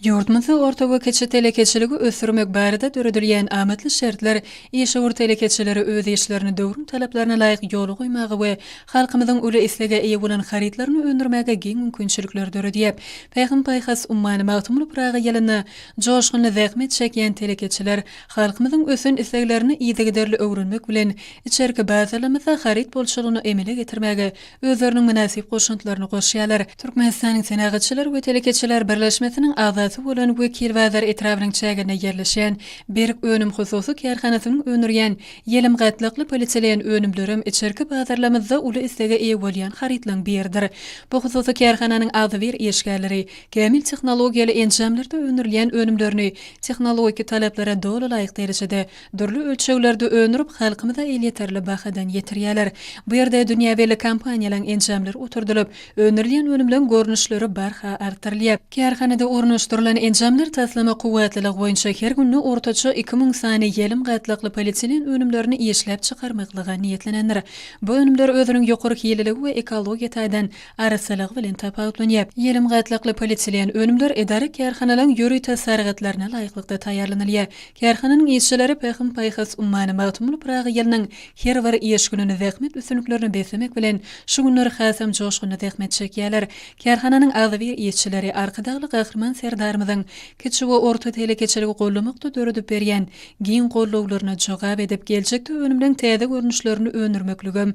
Ýurdumyzda orta we kiçi telekeçiligi ösdürmek barada döredilýän amatly şertler işewür telekeçileri öz işlerini döwrüň talaplaryna laýyk ýola goýmaga we halkymyzyň uly islege eýe bolan harytlaryny öndürmäge giň mümkinçilikleri döredýär. Pähim-paýhas ummany Magtymguly Pyragy ýylynda joşgunly zähmet çekýän telekeçiler halkymyzyň ösen isleglerini yzygiderli öwrenmek bilen, içerki bazarlarymyzda haryt bolçulygyny emele getirmäge özleriniň mynasyp goşantlaryny goşýarlar. Türkmenistanyň Senagatçylar we telekeçiler birleşmesiniň agzasy bolan Wekilbazar etrabynyň çäginde ýerleşýän Berk önüm hususy kärhanasynyň öndürýän ýelim gatlakly polietilen önümlerem içerki bazarlamyzda uly islege eýe bolýan harytlaryň biridir. Bu hususy kärhananyň agzybir işgärleri kämil tehnologiýaly enjamlarda öndürilýän önümlerini tehnologiki talaplara doly laýyk derejede Dürli ölçeglerde öndürip, halkymyza elýeterli bahadan ýetirýärler. Bu ýerde dünýä belli kompaniýalaryň enjamlary oturdylyp, öndürilýän önümleň görnüşleri barha artdyrylýar. Kärhanada ornaşdyrylan enjamlar taslama kuwwatlylygy boýunça her günde ortaça iki müň sany ýelüm gatlakly polietilen önümlerini işläp çykarmaklyga niýetlenendir. Bu önümler özüniň ýokary hililigi we ekologiýa taýdan arassalygy bilen tapawutlanýar. Ýelim gatlakly polietilen önümler edara-kärhanalaryň ýörite sargytlaryna laýyklykda taýýarlanylýar. Kärhananyň işçileri Pähim-paýhas ummany Magtymguly Pyragy ýylynyň her bir iş gününi zähmet üstünliklerini beslemek bilen, şu günler hasam joşgunly zähmet çekýärler. Kärhananyň agzybir işçileri Arkadagly Gahryman Serdarymyzyň kiçi we orta telekeçiligi goldamakda döredip berýän giň gollawlaryna jogap edip, geljekde önümleriň täze görnüşlerini öndürmekligem